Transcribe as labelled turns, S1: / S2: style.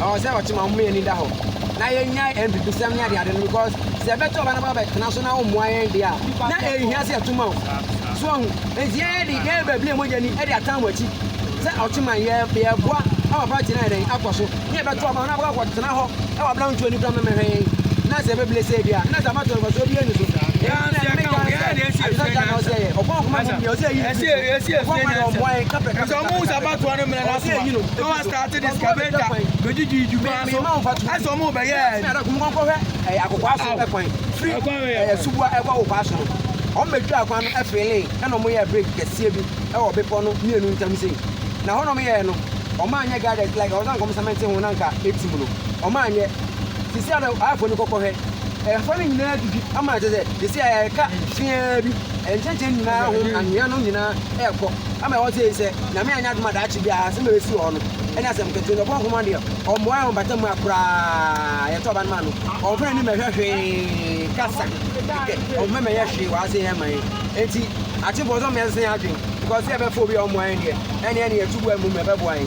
S1: Ɔwɔ sɛ ɔte ma ɔmoma yɛani da hɔ na yɛnyae amfifisɛm ne adeade no because sɛ yɛbɛto ɔba no ba bɛtena so na wommoa yɛn deɛ a na ɛnhia sɛ yɛto ma wo so wahu nti yɛyɛ de yɛyɛ bablie mogya ni de atan mo akyi sɛ ɔte ma yɛ yɛboa ama party no ayɛ dɛn akɔ so ne yɛbɛto ɔba no abɛkɔ akɔtena hɔ wɔ abena ntuo ni kora mɛmɛhwɛ yɛn na sɛ ɛbɛbile sɛ ebi a na sɛ amatɔ nfɔsoɔ bi ani so ɛna ne meka sɛ adesɛ gya na ɔsɛ yɛ ɔkɔn ɔkɔma mu deɛ ɔsɛ ɛyi no ɔkɔn ma deɛ ɔmmoa yɛn kapɛ kapɛ kapɛ kapɛ ɔsɛ ɛyi no Tate de scavator bɛdi di du kwan so ɛsɛ ɔmo bɛyɛ ɛdi. Ɔmo kɔhwɛ ɛyɛ akokwa so ɛkwan firi ɛyɛ suboa ɛkɔ akokwa so no ɔmo bɛtwa akwan no ɛfeele ɛna ɔmo yɛ bridge kɛseɛ bi ɛwɔ bepɔ no mmienu ntam sei na hɔ na ɔmo yɛɛ no ɔmo anyɛ guided like ɔsan kɔm sɛmɛnte ho na nka etim no ɔmo anyɛ sisi ara ayɛfo no kɔkɔhwɛ ɛfɔ no nyinaa didi ama ɛkyɛ sɛ sisi ara ɛka fiaa bi ɛnkyɛnkyɛn nyinaa ho anwea no nyinaa ɛkɔ. Ama ɛwɔ dze yi sɛ Nyame annyɛ adom a daakye bi a asɛm a oesi wɔ hɔ no nnyɛ asɛm ketsewa, ndɛ ɔbɔ nhoma do yɛ ɔmboa hɛn wɔ mpata mu a koraa yɛtɔ ɔba no maa no, ɔmmfa n'enyim mmɛhwɛ hwee kasa kɛkɛ, ɔmmfa mmɛyɛ hwee wɔ adze yɛ ma hɛn ntsi. Akyɛ bɔ ɔdɔm yɛnsesa hɛn adwen because sɛ
S2: yɛbɛfa
S1: obi a ɔmboa
S2: hɛn
S1: deɛ, nna
S2: yɛn
S1: na yɛto bo a
S2: mbom
S1: yɛbɛboa hɛn.